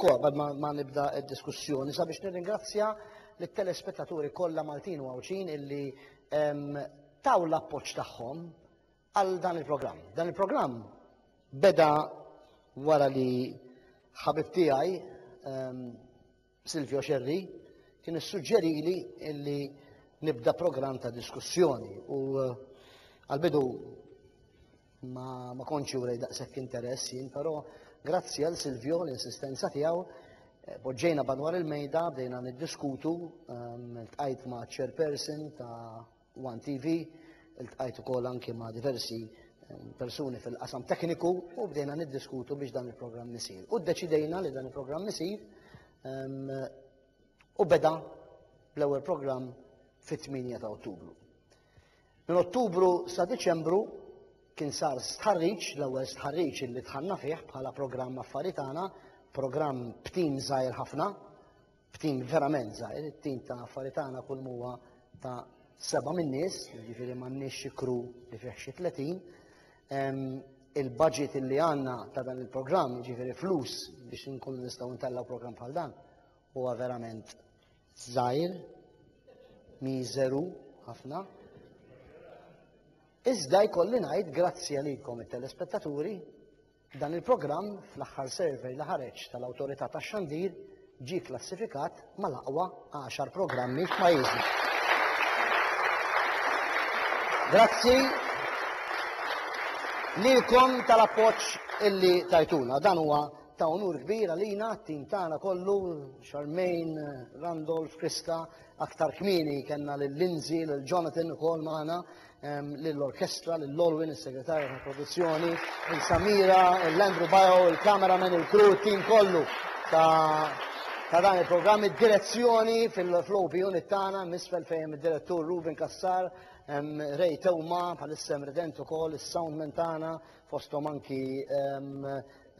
Kor, bad ma nibda d-diskussjoni, sabiex nirringrazzja lit-telespettaturi kollha Maltin u Għawdxin illi ehm, taw l-appoġġ tagħhom għal dan il-programm. Dan il-programm beda wara li ħabib tiegħi ehm, Silvio Xerri kien issuġġerili illi nibda programm ta' diskussjoni u eh, għal-bidu Ma, ma kontx jurej daqshekk interess jien, però grazzi għal Silvio l-insistenza tiegħu eh, poġġejna banwar il-mejda bdejna niddiskutu, ehm, tqajt ma' chairperson ta' One TV, il-tqajt ukoll anki ma' diversi persuni fil-qasam tekniku u bdejna niddiskutu biex dan il-programm nisir. U deċidejna li dan il-programm nisir u beda l-ewwel programm fit-8 ta' Ottubru. Minn Ottubru sa Diċembru kien sar stħarriġ, l-ewwel stħarriġ illi dħalna fih bħala programm affari tagħna, programm b'tim żgħir ħafna, b'tim verament żgħir, it-tim ta' affari tagħna kull huwa ta' seba' min-nies, jiġifieri m'għandniex xi kru li fih xi 30. Il-budget illi għandna ta' dan il-programm, jiġifieri flus biex inkunu nistgħu ntellgħu programm bħal dan, huwa verament żgħir, miżeru ħafna. Iżda jkolli ngħid grazzi għalikom it-telespettaturi dan il-programm fl-aħħar survey li ħareġ tal-Awtorità tax-Xandir ġie klassifikat mal-aqwa 10 programmi f'pajjiżna. Grazzi lilkom tal-appoġġ illi tajtuna. Dan huwa ta' unur kbir għalina, t-tim tagħna kollu, Charmaine, Randolph, Krista, aktar kmieni kellna lil Lindsay, lil Jonathan ukoll magħna, lill-orkestra, lil Olwin, is-segretarja ta' produzzjoni, lil Samira, l-Andrew Bio, il-cameraman, il-crew, it-tim kollu ta' ta' dan il-programm id-direzzjoni fil-flow unit tagħna misfel fejn id-direttur Ruben Kassar, Ray Tewma, bħalissem redent ukoll is-soundman tagħna fosthom anki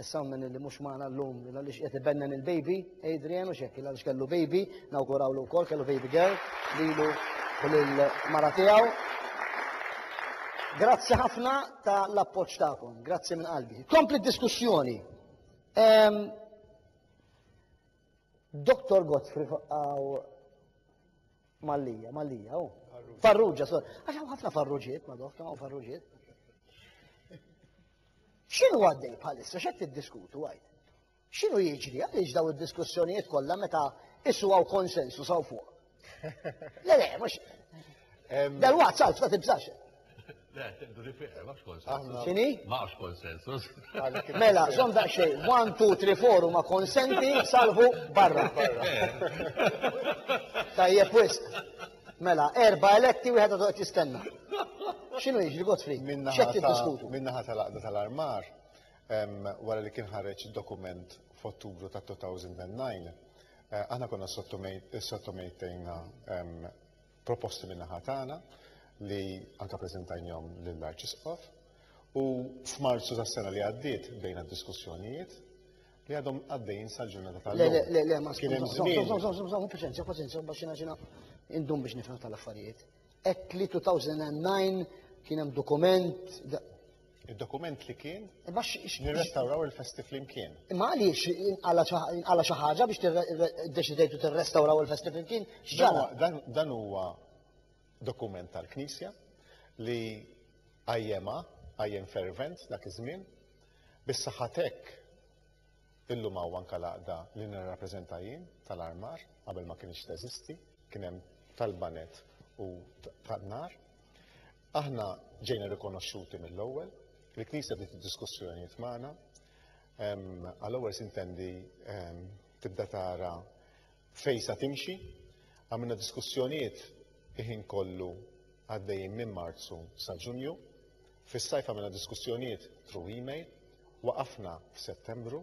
Issa minn li mhux magħna llum il għaliex qed ibennen il-baby, Adrian u xekk il għaliex kellu baby, nawgurawlu wkoll kellu baby girl lilu u lil mara tiegħu. Grazzi ħafna ta' l-appoġġ tagħkom, grazzi minn qalbi. Kompli diskussjoni. Ehm, Dr. Godfrey għaw Mallija, Mallija, u. Farruġa, so. Għaxaw ħafna farruġiet, ma doħta, u farruġiet. X'inhu għaddej bħalissa x'qed tiddiskutu għid? X'inhu jiġri għaliex daw id-diskussjonijiet kollha meta issu hawn konsensus hawn fuq? Le le, mhux. Dal-waqt salf ta' tibżax. Le, tindu li fiqer, ma' konsensus. Xini? Ma' konsensus. Mela, zom da' xej, 1, 2, 3, 4 u ma' konsenti, salvu barra. Tajjeb wisq. Mela, erba eletti wieħed għadu qed jistenna. X'inhu jiġri Godfrey? X'qed tiddiskutu? Min-naħa tal-Aqda tal-Armar wara li kien ħareġ dokument f'Ottubru ta' 2009, eh, aħna konna sottomejtejna proposti min-naħa tagħna li anka preżentajnhom lill-Arċisqof u f'Marzu tas-sena li għaddiet bdejna diskussjonijiet li għadhom għaddejjin sal-ġurnata tal-lum. Le, le, le, ma Kien hemm żmien. Paċenzja, paċenzja, biex xina xina indum biex nifhem tal-affarijiet. Ek li 2009 kien hemm dokument. Il-dokument li kien? E, nirrestawraw il-festi flimkien. Imma għaliex inqala xi ħaġa biex deċidejtu tirrestawraw il-festi flimkien? X'ġara? Dan huwa dokument tal-Knisja li qajjemha, qajjem fervent dak iż-żmien, bis-saħħa t'hekk illum hawn anke l-għaqda li nirrappreżenta jien tal-armar qabel ma kienx teżisti, kien hemm tal-banet u tan-nar. Aħna ġejna rikonoxxuti mill-ewwel, il-Knisja bdiet id-diskussjonijiet magħna, għal-ewwel sintendi tibda tara Fejn sa timxi? Għamilna diskussjonijiet il-ħin kollu għaddejjin minn Marzu sa Ġunju. Fis-sajf għamilna diskussjonijiet through email. Waqafna f'Settembru.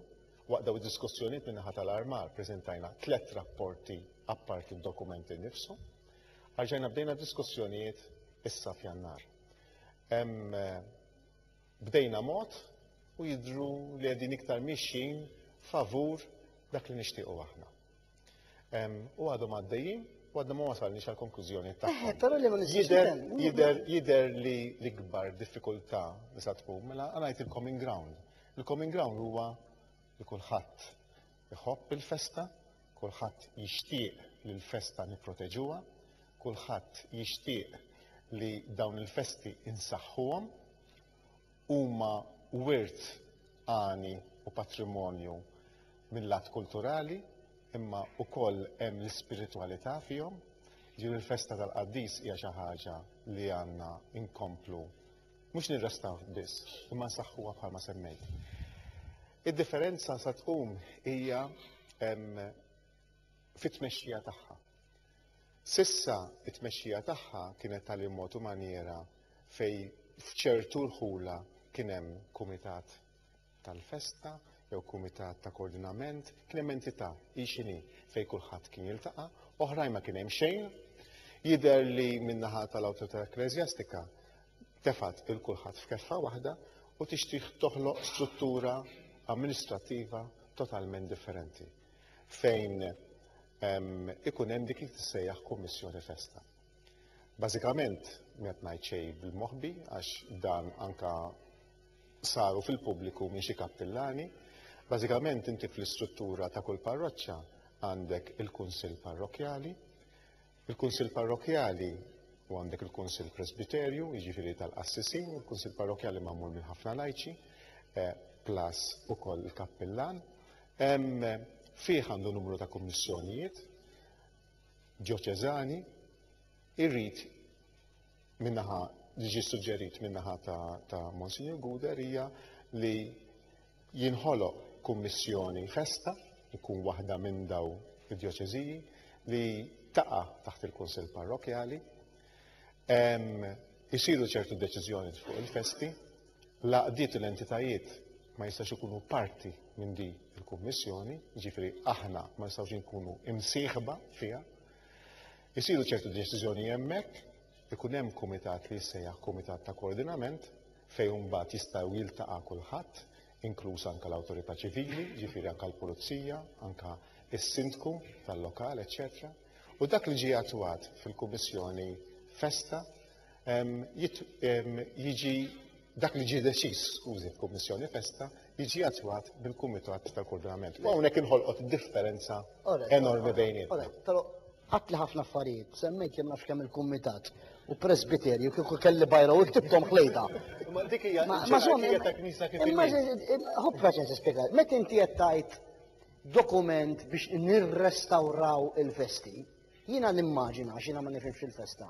Waqt dawn id-diskussjonijiet min-naħa tal-armar preżentajna tliet rapporti apparti d-dokument innifsu. Arġajna bdejna diskussjonijiet issa f'Jannar. Hemm Bdejna mod u jidhru li qegħdin iktar miexjin favur dak li nixtiequ aħna. U għadhom għaddejjin u għadna ma wasalniex għal konklużjoni ta' Eħe, però li ma nistgħux Jider li l-ikbar diffikultà li sa tkun, mela għanajt il-common ground. Il-common ground huwa li kulħadd Iħobb il-festa, kulħadd jixtieq li l-festa nipproteġuha, kulħadd jixtieq li dawn il-festi insaħħuhom, huma wirt għani u patrimonju mill-lat kulturali, imma wkoll hemm l-ispiritwalità fihom. Ġifieri l-festa tal-qaddis hija xi ħaġa li għandna inkomplu mhux nirrestaw biss, imma nsaħħuha bħalma semmejt. Id-differenza sa tkun hija fit-tmexxija tagħha. Sissa it-tmexxija tagħha kienet tal mod u manjera fej f'ċertu rħula kien hemm kumitat tal-festa jew kumitat ta' koordinament, kien hemm entità hi x'inhi fejn kulħadd kien jiltaqa', oħrajn ma kien hemm xejn. Jidher li min-naħa tal-awtorità ekkleżjastika tefgħet lil kulħadd f'keffa waħda u tixtieq toħloq struttura amministrattiva totalment differenti fejn ikun hemm dik li tissejjaħ kummissjoni festa. Bażikament qed ngħid xejn bil-moħbi għax dan anka saru fil-pubbliku minn xi kappillani. Bażikament inti fl-istruttura ta' kull parroċċa għandek il-kunsill parrokkjali, Il-Kunsill Parrokkjali u għandek il-Kunsill Presbiterju, jiġifieri tal-qassisin, il-Kunsill Parrokkjali magħmul minn ħafna lajċi, eh, plus ukoll il-kappillan. Fih għandu numru ta' kummissjonijiet, ġoċeżani, irrid min-naħa li ġie suġġerit min-naħa ta' Monsinjur Guder hija li jinħoloq kummissjoni festa jkun waħda minn daw id-djoċeżiji li taqa taħt il-Kunsill Parrokjali. Isiru ċertu deċiżjoni fuq il-festi, laqdiet u l-entitajiet ma jistax ikunu parti minn di il-Kummissjoni, ġifri aħna ma jistax ikunu imsieħba fiha. Isiru ċertu deċiżjoni hemmhekk, ikun hemm kumitat li jissejjaħ kumitat ta' koordinament fejn imbagħad jistgħu jiltaqa' kulħadd, inkluż anke l-awtorità ċivili, ġifieri anke l-pulizija, anke s-sindku tal-lokal, eċċetera. U dak li ġie attwat fil-Kummissjoni Festa jiġi dak li ġie deċiż, skużi, f'Kummissjoni Festa, jiġi attwat bil-Kumitat tal-Koordinament. U hawnhekk inħolqot differenza enormi bejnietna. Però għatli ħafna affarijiet, semmejt li nafx kemm il-Kumitat u Presbiterju kieku kelli bajra u ktibtom ħlejda. Ma dik hija ta' knisa kif Imma ħobba ċen spjega, meta inti qed tgħid dokument biex nirrestawraw il-festi, jiena nimmaġina x'ina ma nifhimx il-festa.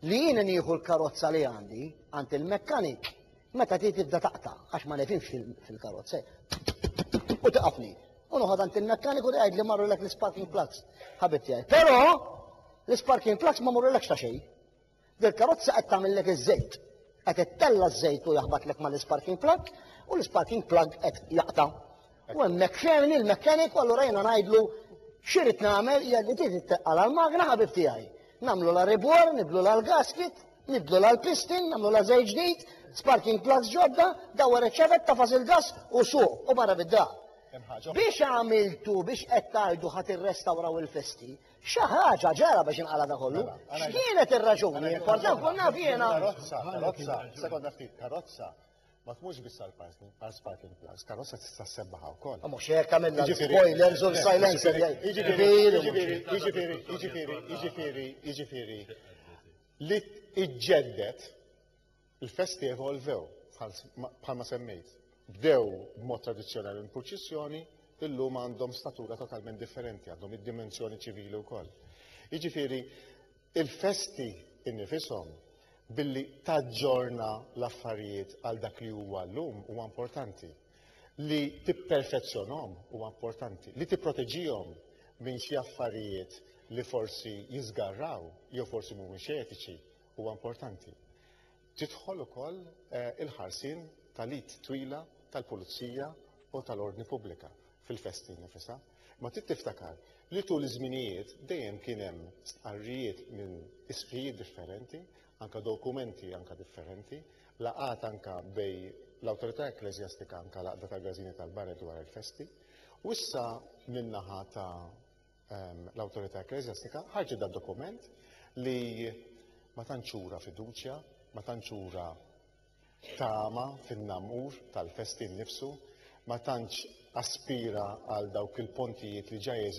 li jiena nieħu l-karozza li għandi għand il-mekkanik meta ti tibda taqta' għax ma nefimx fil-karozza u taqafni. U noħod għand il-mekkanik u tgħid li marru lek l-sparking plugs ħabib tiegħi. Però l-sparking plugs ma morru lek ta' xejn. Dil-karozza qed tagħmellek iż-żejt. Qed ittella ż-żejt u jaħbatlek mal-sparking plug u l-sparking plug qed jaqta' U hemmhekk ferni l-mekkaniku allura jiena ngħidlu x'irid nagħmel hija li trid itteqqal għall-magna ħabib tiegħi. Nagħmlu la ribor, nibdlu la l-gasket, nibdlu la l-pistin, nagħmlu la żejt ġdid, sparking plugs ġodda, dawwar iċ-ċavetta fas il-gas u suq u barra bid-dar. Biex għamiltu biex qed tgħidu ħadd irrestawraw il-festi, xi ħaġa ġara biex inqala da kollu. Mela, X'kienet ir-raġuni? Importanti konna fjena. Karozza, karozza, sekonda ftit, karozza Ma tmurx biss għal parking, għal sparking plugs, karozza tista' sebbaħa wkoll. Mhux hekk għamilna l-spoilers u l-silencer. Jiġifieri, jiġifieri, jiġifieri, jiġifieri, jiġifieri. Li iġġeddet il-festi evolvew bħalma semmejt. Bdew b'mod tradizzjonali l-purċissjoni, illum għandhom statura totalment differenti, għandhom id-dimensjoni ċivili wkoll. Jiġifieri, il-festi innifishom billi taġġorna l-affarijiet għal dak li huwa llum huwa importanti. Li tipperfezzjonhom huwa importanti, li tipproteġihom minn xi affarijiet li forsi jiżgarraw jew forsi mhumiex etiċi huwa importanti. Tidħol ukoll eh, il-ħarsien tal-id twila tal-pulizija u tal-ordni pubblika. fil-festi nnifisha, imma trid tiftakar li tul iż-żminijiet dejjem kien hemm stqarrijiet minn isqfijiet differenti, anke dokumenti anke differenti, laqgħat anke bejn l-awtorità ekkleżjastika anke l-Għaqda tal-Gażini tal-Barra dwar il-festi, u issa min-naħa ta' ehm, l-awtorità ekkleżjastika ħarġet da' dokument li ma tantx ura fiduċja, ma tantx ura tama fin-namur tal-festin nnifsu, ma tantx aspira għal dawk il-pontijiet li ġa jeżistu.